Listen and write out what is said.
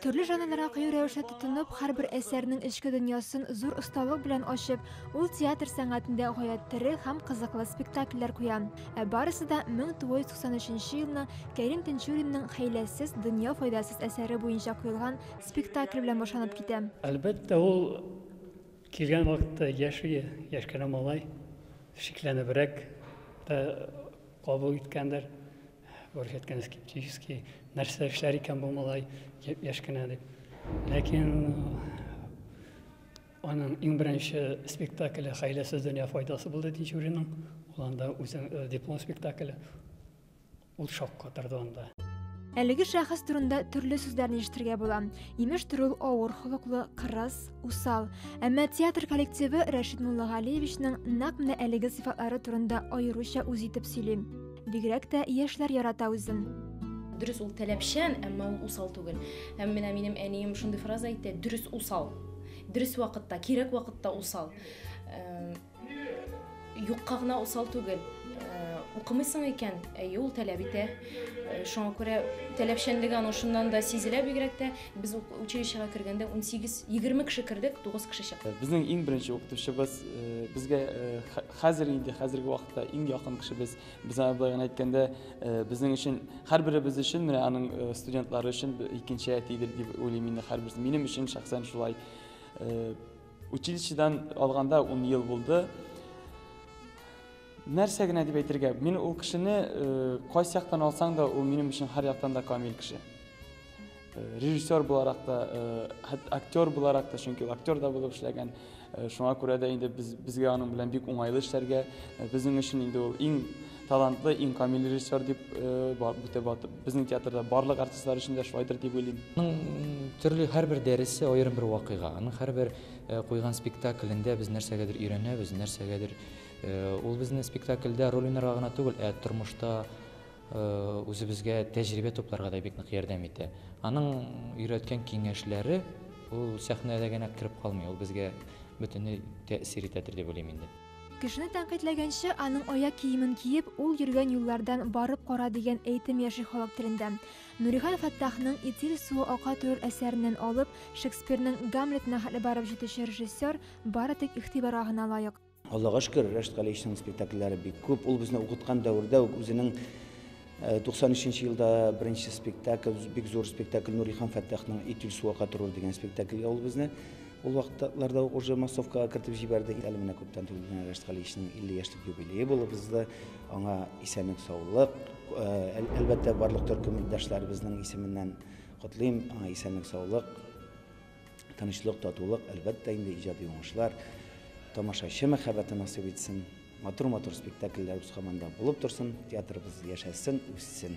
Төрле жанрларга кыю рәвешле тотынып, һәрбер әсәрнең эчке дөньясын зур осталык белән ачып, ул театр сәнгатендә гаять тере һәм кызыклы спектакльләр куя. Ә барысы да 1993 елның Кәрим Тинчуринның Хәйләсез дөнья файдасыз әсәре буенча куелган спектакль белән башланып китә. Әлбәттә, ул килгән вакытта яшь иде, яшь кенә малай, шикләнебрәк тә кабул иткәндер. Күрсәткән скептически, нәрсә эшләр икән бу малай, яшь кенә дип. Ләкин аның иң беренче спектакле Хәйләсез дөнья файдасы булды Тинчуринның. Ул анда үзе э, диплом спектакле. Ул шаккатырды анда. Әлеге шәхес турында төрле сүзләрне ишетергә була. Имеш төр ул авыр холыклы, кырыс, усал. Әмма театр коллективы Рәшит Муллагалиевичның нәкъ менә әлеге сыйфатлары турында аеруча үз итеп сөйли. Бигрәк тә яшьләр ярата үзен. Дөрес ул таләпчән, әмма ул усал түгел. Һәм менә минем әнием шундый фраза әйтә, дөрес усал. Дөрес вакытта, кирәк вакытта усал. Э, юкка гына усал түгел. Э, укымыйсың икән, әйе ул таләп итә. Э, шуңа күрә таләпчәнлеге аның шуннан да сизелә бигрәк тә. Без училищега кергәндә 18-20 кеше кердек, 9 кеше чыкты. Безнең иң беренче укытучыбыз безгә Хәзер инде, хәзерге вакытта иң якын кешебез. Без аны былай гына әйткәндә, э, безнең өчен, һәрберебез өчен, менә аның э, студентлары өчен икенче әтидер дип уйлыйм инде һәрберсе. Минем өчен шәхсән шулай. Э, училищедан алганда 10 ел булды. Нәрсә генә дип әйтергә? Мин ул кешене кайсы яктан алсаң да, ул минем өчен һәр яктан да камил кеше. Режиссер буларак та, актер буларак та, чөнки ул актер да булып эшләгән. Шуңа күрә дә инде без безгә аның белән бик уңайлы эшләргә. Безнең өчен инде ул иң талантлы, иң камил режиссер дип бүтә батып. Безнең театрда барлык артистлар өчен дә шулайдыр дип уйлыйм. Аның төрле һәрбер дәресе аерым бер вакыйга. Аның һәрбер куйган спектаклендә без нәрсәгәдер өйрәнәбез, нәрсәгәдер ул безне спектакльдә роль уйнарга гына түгел, ә тормышта үзебезгә тәҗрибә тупларга да бик нык ярдәм итә. Аның өйрәткән киңәшләре ул сәхнәдә генә кереп калмый, ул безгә бөтенләй тәэсир итәдер дип уйлыйм инде. Кешене тәнкыйтьләгәнче, аның аяк киемен киеп, ул йөргән юллардан барып кара дигән әйтем яши халык телендә. Нурихан Фәттахның Итил суы ака торыр әсәреннән алып, Шекспирның Гамлетына хәтле барып җитүче режиссер бары тик игътибарга гына лаек. Аллага шөкер, Рәшит Галиевичның спектакльләре бик күп. Ул безне укыткан дәвердә үк үзенең 93 э, елда беренче спектакль, бик зур спектакль Нури хан Фәттахның Итил суга катырыр дигән спектакльгә ул безне ул вакытларда ук уже массовкага кертеп җибәрде. Әле менә күптән түгел генә Рәшит Галиевичның 50 яшьлек юбилее булып узды. Аңа исәнлек, саулык. Э, әлбәттә, барлык төркем иптәшләребезнең исеменнән котлыйм. Аңа исәнлек, саулык. Тынычлык, татулык, әлбәттә инде иҗади уңышлар, тамашачы мәхәббәте насыйп итсен. Матур-матур спектакльләр үз команда булып торсын, театрыбыз яшәсен, үссен.